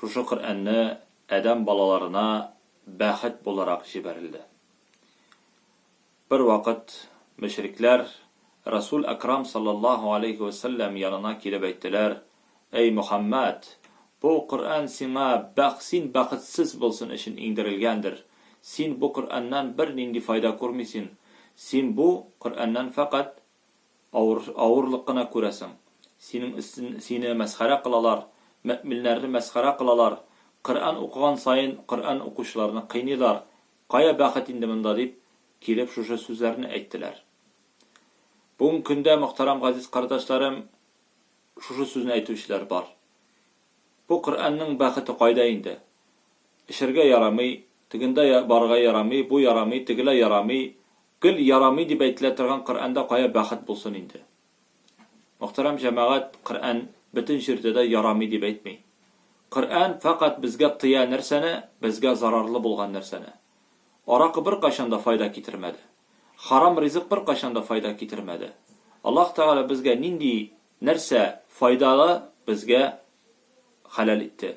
Шушы Коръәнне адәм балаларына бәхет буларак җибәрелде. Бервакыт мөшрикләр Рәсүл Әкрам салләллаһу галәйһи вә сәлләм янына килеп әйттеләр, Әй Мөхәммәд! Бу Коръән сиңа бәх син бәхетсез булсын өчен иңдерелгәндер. Син бу Коръәннән бернинди файда күрмисен. Син бу Коръәннән фәкать Авыр, авырлык кына күрәсең. Синең өстен, сине мәсхәрә кылалар, мөэминнәрне мәсхәрә кылалар, Коръән укыган саен Коръән укучыларны кыйныйлар, кая бәхет инде монда дип, килеп шушы сүзләрне әйттеләр. Бүгенге көндә, мөхтәрәм газиз кардәшләрем, шушы сүзне әйтүчеләр бар. Бу Коръәннең бәхете кайда инде? Эчәргә ярамый, тегендә барырга ярамый, бу ярамый, тегеләй ярамый, Гел ярамый дип әйтелә торган Коръәндә кая бәхет булсын инде? Мөхтәрәм җәмәгать, Коръән бөтен җирдә дә ярамый дип әйтми. Коръән фәкать безгә тыя нәрсәне, безгә зарарлы булган нәрсәне. Аракы беркайчан да файда китермәде. Харам ризык беркайчан да файда китермәде. Аллаһ Тәгалә безгә нинди нәрсә файдалы, безгә хәләл итте.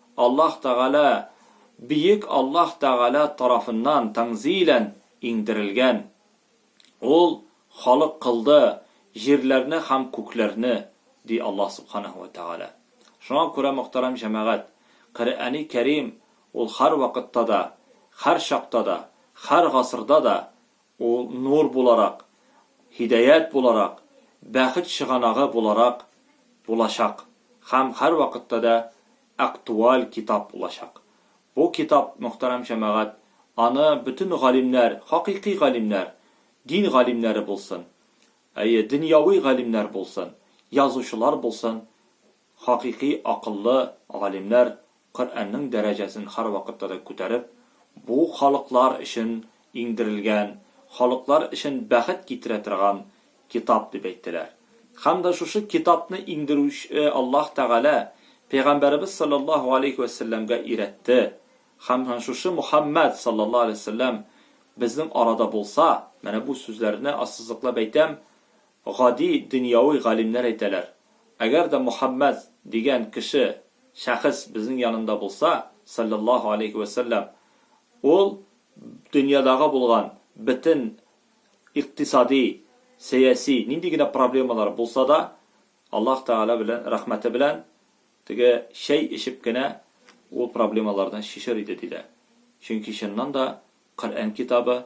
Аллаһ Тәгалә, Бөек Аллаһ Тәгалә тарафыннан, тәнзилән, иңдерелгән. Ул халык кылды җирләрне һәм күкләрне, ди Аллаһ Субханәһү вә Тәгалә. Шуңа күрә, мөхтәрәм җәмәгать, Коръәни Кәрим ул һәрвакытта да, һәрчакта да, һәр гасырда да Ул нур буларак, һидәят буларак, бәхет чыганагы буларак булачак һәм һәрвакытта да актуаль китап булачак. Бу китап, мөхтәрәм җәмәгать, аны бөтен галимнәр, хакыйкый галимнәр, дин галимнәре булсын, әйе, дөньяви галимнәр булсын, язучылар булсын, Хакыйкый акыллы галимнәр Коръәннең дәрәҗәсен һәрвакытта да күтәреп, бу халыклар өчен иңдерелгән, халыклар өчен бәхет китерә торган китап дип әйттеләр. Һәм дә шушы китапны иңдерүче Аллаһ Тәгалә пәйгамбәребез салләллаһу галәйһи вә сәлләмгә өйрәтте. Һәм һәм шушы Мөхәммәд салләллаһу галәйһи вә сәлләм безнең арада булса, менә бу сүзләрне ассызыклап әйтәм, Гади дөньяви галимнәр әйтәләр, Әгәр дә Мөхәммәд дигән кеше, шәхес безнең янында булса, салләллаһу аләйһи вә сәлләм, ул дөньядагы булган бөтен икътисади, сәяси, нинди генә проблемалар булса да, Аллаһ Тәгалә белән, рәхмәте белән, теге чәй эчеп кенә ул проблемаларны чишер иде, диде. Чөнки чыннан да Коръән китабы